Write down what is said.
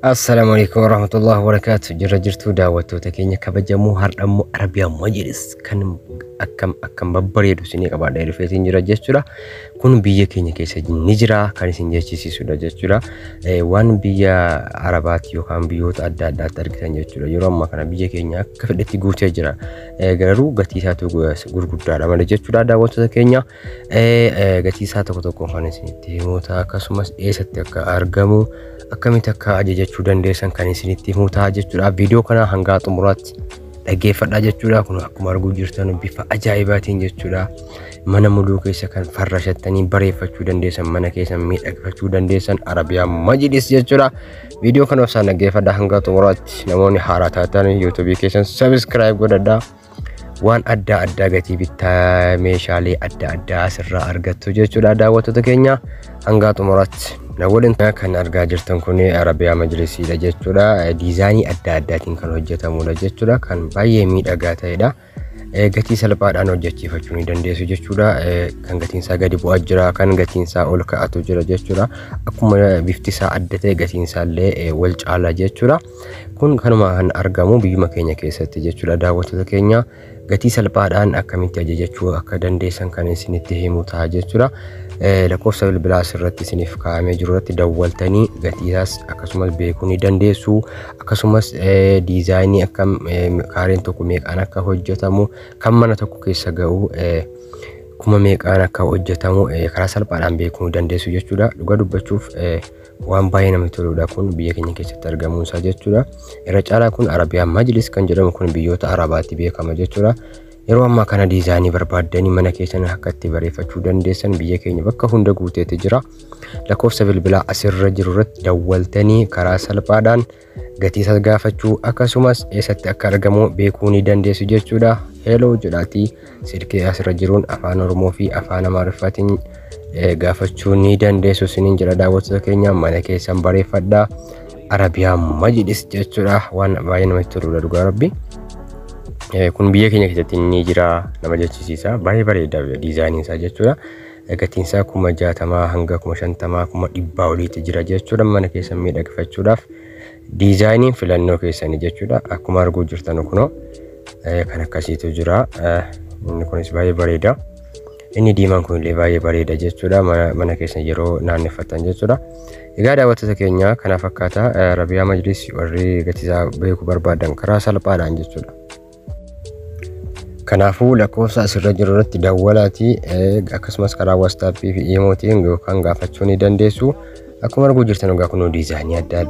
Assalaamu alaikum warahmatullahi wabarakaatu jirra jirtuu daawwattoota keenya kabajamoo hardhammoo Arabiyaa Majlis kan akkam akkam babbareedu isinii qabaadha dhufeetiin jira jechuudha kun biyya keenya keessa ni jira kan isin jechisiisudha jechuudha Eh, waan biyya Arabaatti yookaan biyyoota adda addaatti argitan jechuudha yeroo ammaa kana biyya keenya akka fedhetti guutee jira Eh, garuu gatii isaatu gurguddaadha malee jechuudha daawwattoota keenya gatii isaa tokko tokko kan isinitti himuu ta'a akkasumas eessatti akka argamu akkamitti akka ajajachuu dandeessan kan isinitti himuu ta'a jechuudha viidiyoo kana hangaa xumuraatti dhaggeeffadhaa jechuudha kun akkuma arguu jirtan bifa ajaa'ibaatiin jechuudha mana muluu keessa kan farrashattanii bareeffachuu dandeessan mana keessan miidhagfachuu dandeessan arabiyaa majidis jechuudha viidiyoo kana osaan dhaggeeffadhaa hangaa xumuraatti namoonni haaraa taatan yuutuubii keessan sabiskiraayib godhadhaa waan adda addaa gatii bittaa meeshaalee adda addaa asirraa argattu jechuudha daawwattoota keenya hangaa xumuraatti na waliin kan argaa jirtan kun arabiyaa majlisiidha jechuudha diizaanii adda addaatiin kan hojjetamudha jechuudha kan baay'ee miidhagaa ta'edha gatii salphaadhaan hojjechiifachuu ni dandeessu jechuudha kan gatiinsaa gadi bu'aa jira kan gatiinsaa ol ka'atu jira jechuudha akkuma biftisaa adda ta'e gatiinsaa illee wal caala jechuudha Kun kanuma kan argamu biyyuma keenya keessatti jechuudha. Daawwattoota keenya gatii salphaadhaan akkamitti ajajachuu akka dandeessan kan isinitti himu ta'a jechuudha. Lakkoofsa bilbilaas irratti isiniif kaa'amee jiru irratti dawwaltanii gatiisaas akkasumas beekuu ni dandeessu. Akkasumas diizaayinii akkam kaareen tokko meeqaan akka hojjetamu kan mana tokko keessa ga'u kuma meeqaan akka hojjetamu karaa salphaadhaan beekuu ni dandeessu jechuudha. Dhugaa dubbachuuf waan baay'ee namatti toludha kun biyya keenya keessatti argamuun isaa jechuudha. Irra caalaa kun Arabiyaa Majlis kan jedhamu kun biyyoota Arabaatti beekama jechuudha. Yeroo ammaa kana diizaayinii barbaaddanii mana keessan akka itti bareeffachuu dandeessan biyya keenya bakka hunda guuteetti jira. Lakkoofsa bilbilaa asirra jiru irratti dawwaltanii karaa salphaadhaan gatii isaas gaafachuu akkasumas eessatti akka argamu beekuu ni dandeessu jechuudha. Hello jedhaatii silkii asirra jiruun afaan Oromoo fi afaan Amaariffaatiin gaafachuu ni dandeessu isiniin jedha daawwattoota keenya mana keessan bareeffadha. Arabiyaa majlis jechuudha waan baay'ee namatti toludha dhugaa rabbi. Kun biyya keenya keessatti ni jira nama jechisiisa baay'ee bareeda diizaayiniin isaa jechuudha. gatiinsaa kuma jaatamaa hanga kuma shantamaa kuma dhibbaa oliitti jira jechuudha mana keessan miidhagfachuudhaaf diizaayiniin filannoo keessanii jechuudha akkuma arguu jirtan kunoo kan akkasiitu jira inni kunis baay'ee bareeda inni diimaan kun illee baay'ee bareeda jechuudha mana keessan yeroo naanneffatan jechuudha egaa daawwattoota keenya kana fakkaata rabiyaa majlis warri gatiisaa beekuu barbaadan karaa salphaadhaan jechuudha Kanaafuu lakkoofsa asirra jiru irratti dawwalaatii akkasumas karaa waastaappii fi iimootiin yookaan gaafachuu ni dandeessu. Akkuma arguu jirtan egaa kunoo diizaayinii adda addaa.